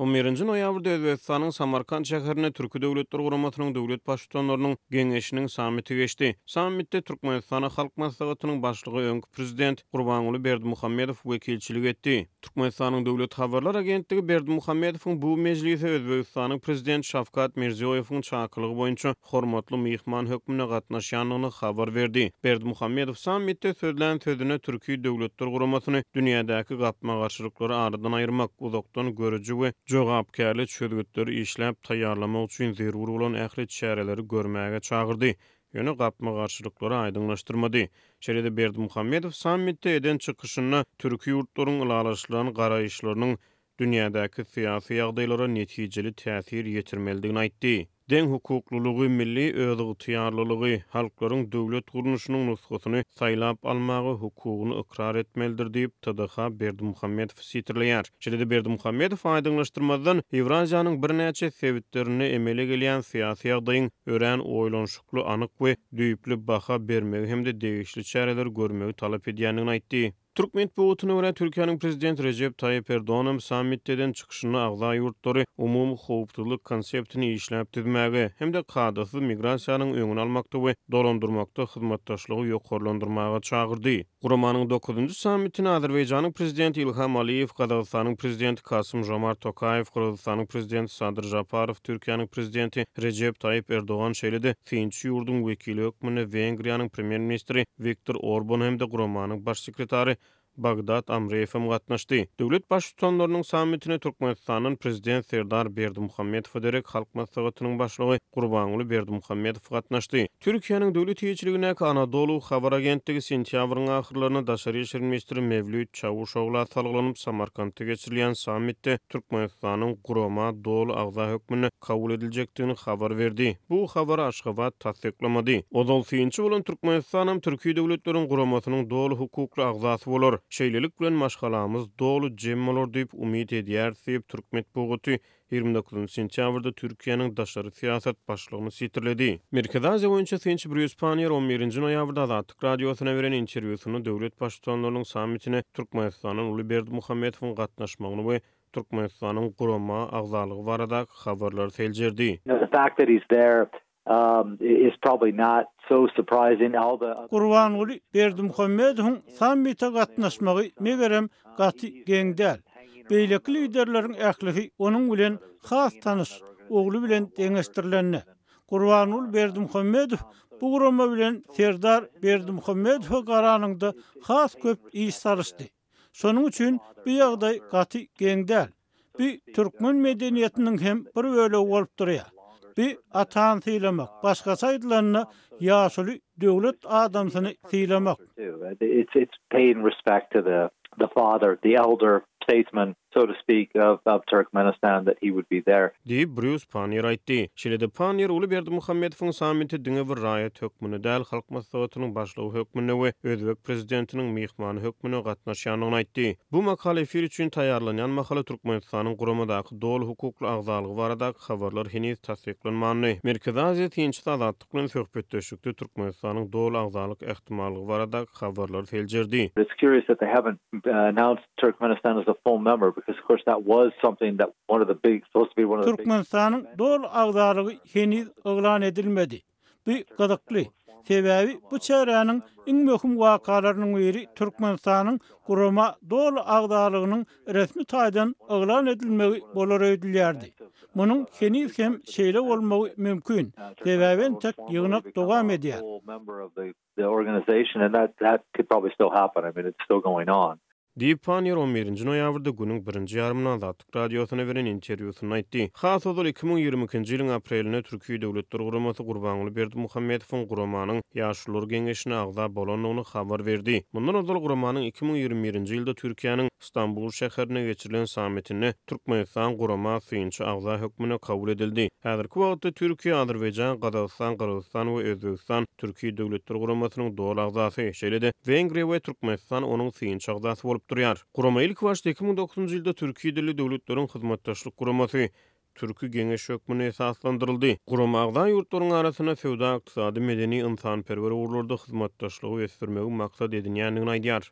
On birinji noýabrda Özbegistanyň Samarkant şäherinde Türki Döwletler Guramasynyň döwlet Baştutanlarynyň Geňeşiniň sammiti geçdi. Sammitde Türkmenistana Halk Maslahatynyň Başlygy, öňki Prezident Gurbanguly Berdimuhamedow wekilçilik etdi. Türkmenistanyň Döwlet habarlar agentligi Berdimuhamedowyň bu mejlise Özbegistanyň Prezidenti Şawkat Mirziýoýewiň çakylygy boýunça hormatly myhman hökmünde gatnaşýandygyny habar berdi. Berdimuhamedow sammitde sözlän sözünde Türki Döwletler Guramasyny dünýädäki gapma-garşylyklary aradan aýyrmak, uzakdan görüji we jogapkärli çözgütleri işläp taýýarlamak üçin zerur bolan ähli çäreleri görmäge çagyrdy, ýöne gapma-garşylyklary aýdyňlaşdyrmady. Şeýle-de Berdimuhamedow sammitde eden çykyşynda türki ýurtlaryň ylalaşylan garaýyşlarynyň dünýädäki syýasy ýagdaýlara netijeli täsir ýetirmelidigini aýtdy. Deňhukuklylygy, milli özygtyýarlylygy, halklaryň döwlet gurluşynyň nusgasyny saýlap almaga hukugyny ykrar etmelidir diýip, TDH Berdimuhamedowy sitirleýär. Şeýle-de Berdimuhamedow aýdyňlaşdyrmazdan, Ýewraziýanyň birnäçe sebitlerinde emele gelýän syýasy ýagdaýyň örän oýlanyşykly, anyk we düýpli baha bermegi hem-de degişli çäreleri görmegi talap edýändigini aýtdy. Türk metbugatyna görä, Türkiýäniň Prezidenti Rejep Taýyp Erdoganam sammitde eden çykyşynda agza ýurtlary umumy howpsuzlyk konseptini işläp düzmäge hem-de kadasyz migrasiýanyň öňüni almakda we dolandyrmakda hyzmatdaşlygy ýokarlandyrmaga çagyrdy. Guramanyň dokuzynjy sammitine Azerbaýjanyň Prezidenti Ilham Aliýew, Gazagystanyň Prezidenti Kasym-Žomart Tokaýew, Gyrgyzystanyň Prezidenti Sadyr Žaparow, Türkiýäniň Prezidenti Rejep Taýyp Erdogan şeýle-de, Synçy ýurduň wekili hökmünde Wengriýanyň premýer-ministri Wiktor Orban hem-de guramanyň baş sekretary Bagdad Amreýew hem gatnaşdy. Döwlet Baştutanlarynyň sammitine Türkmenistandan Prezident Serdar Berdimuhamedowa derek Halk Maslahatynyň Başlygy Gurbanguly Berdimuhamedow gatnaşdy. Türkiýäniň döwlet eýeçiligindäki Anadolu habar agentligi sentýabryň ahyrlarynda daşary işler ministri Mewlüt Çawuşogla salgylanyp, Samarkantda geçirilýän sammitde Türkmenistanyň gurama doly agza hökmünde kabul ediljekdigini habar berdi. Bu habary Aşgabat tassyklamady. Ozal synçy bolan Türkmenistanam Türki Döwletleriň Guramasynyň doly hukukly agzasy bolar. Şeýlelik bilen maşgalamyz doly jem bolar diýip umyt edýäris diýip, türk metbugaty ýigrimi dokuzynjy sentýabrda Türkiýäniň daşary syýasat başlygyny sitirledi. Merkezi Aziýa boýunça synçy Brýus Panniýer on birinji noýabrda Azatlyk Radiosyna beren interwýusynda döwlet baştutanlarynyň sammitine Türkmenistandan Uly Berdimuhamedowyň gatnaşmagyny we Türkmenistanyň gurama agzalygy baradaky habarlary seljerdi. Gurbanguly Berdimuhamedowyň sammite gatnaşmagy, megerem, gaty geň däl. Beýleki liderleriň ählisi onuň bilen has tanyş, ogly bilen deňeşdirilende. Gurbanguly Berdimuhamedow bu gurama bilen Serdar Berdimuhamedowa garanyňda has köp iş salyşdy. Şonuň üçin bu ýagdaý gaty geň däl. Bu türkmen medeniýetiniň hem bir bölegi bolup durýar. Bu atany sylamak, başgaça aýdylanda, ýaşuly döwlet adamsyny sylamak. so to speak, of, of Turkmenistan that he would be there. Diýip, Brýus Panniýer aýtdy. Şeýle-de Panniýer uly Berdimuhamedowyň sammiti diňe bir raýat hökmünde däl, Halk Maslahatynyň Başlygy hökmünde we özbek prezidentiniň myhmany hökmünde gatnaşýandygyny aýtdy. Bu makala efir üçin taýýarlanýan mahaly Türkmenistanyň guramadaky doly hukukly agzalygy baradaky habarlar heniz tassyklanmandy. Merkezi Aziýa synçysy Azatlyk. Agtlyk bilen söhbetdeşlikde Türkmenistanyň doly agzalyk ähtimallygy baradaky habarlary seljerdi. It's curious that they haven't announced Turkmenistan as a full member because of course that was something that one of the big supposed to be one of the big Türkmenistanyň doly agzalygy heniz yglan edilmedi. Bu gyzykly, sebäbi bu çäräniň iň möhüm wakalarynyň biri Türkmenistanyň gurama doly agzalygynyň resmi taýdan yglan edilmegi bolar öýdülýärdi. Munuň heniz hem şeýle bolmagy mümkin, sebäbi entek ýygnak dowam edýär. Diýip, Panniýer on birinji noýabrda günüň birinji ýarymynda Azatlyk Radiosyna beren interwýusynda aýtdy. Has ozal iki müň ýigrimi ikinji ýylyň aprelinde Türki Döwletler Guramasy Gurbanguly Berdimuhamedowyň guramanyň, Ýolbaşçylar geňeşine agza bolandygyny habar berdi. Mundan ozal guramanyň iki müň ýigrimi birinji ýylda Türkiýäniň Stambul şäherinde geçirilen sammitinde Türkmenistan gurama synçy agza hökmünde kabul edildi. Häzirki wagtda Türkiýe, Azerbaýjan, Gazagystan, Gyrgyzystan we Özbegistan Türki döwletler guramasynyň doly agzasy, şeýle-de Wengriýa we Türkmenistan onuň synçy agzasy bolup durýar. Gurama ilkibaşda iki müň dokuzynjy ýylda Türki dilli döwletleriň hyzmatdaşlyk guramasy, Türki geňeş hökmünde esaslandyryldy. Gurama agza ýurtlaryň arasynda söwda-ykdysady, medeni, ynsanperwer ugurlarda hyzmatdaşlygy ösdürmegi maksat edinýändigini aýdýar.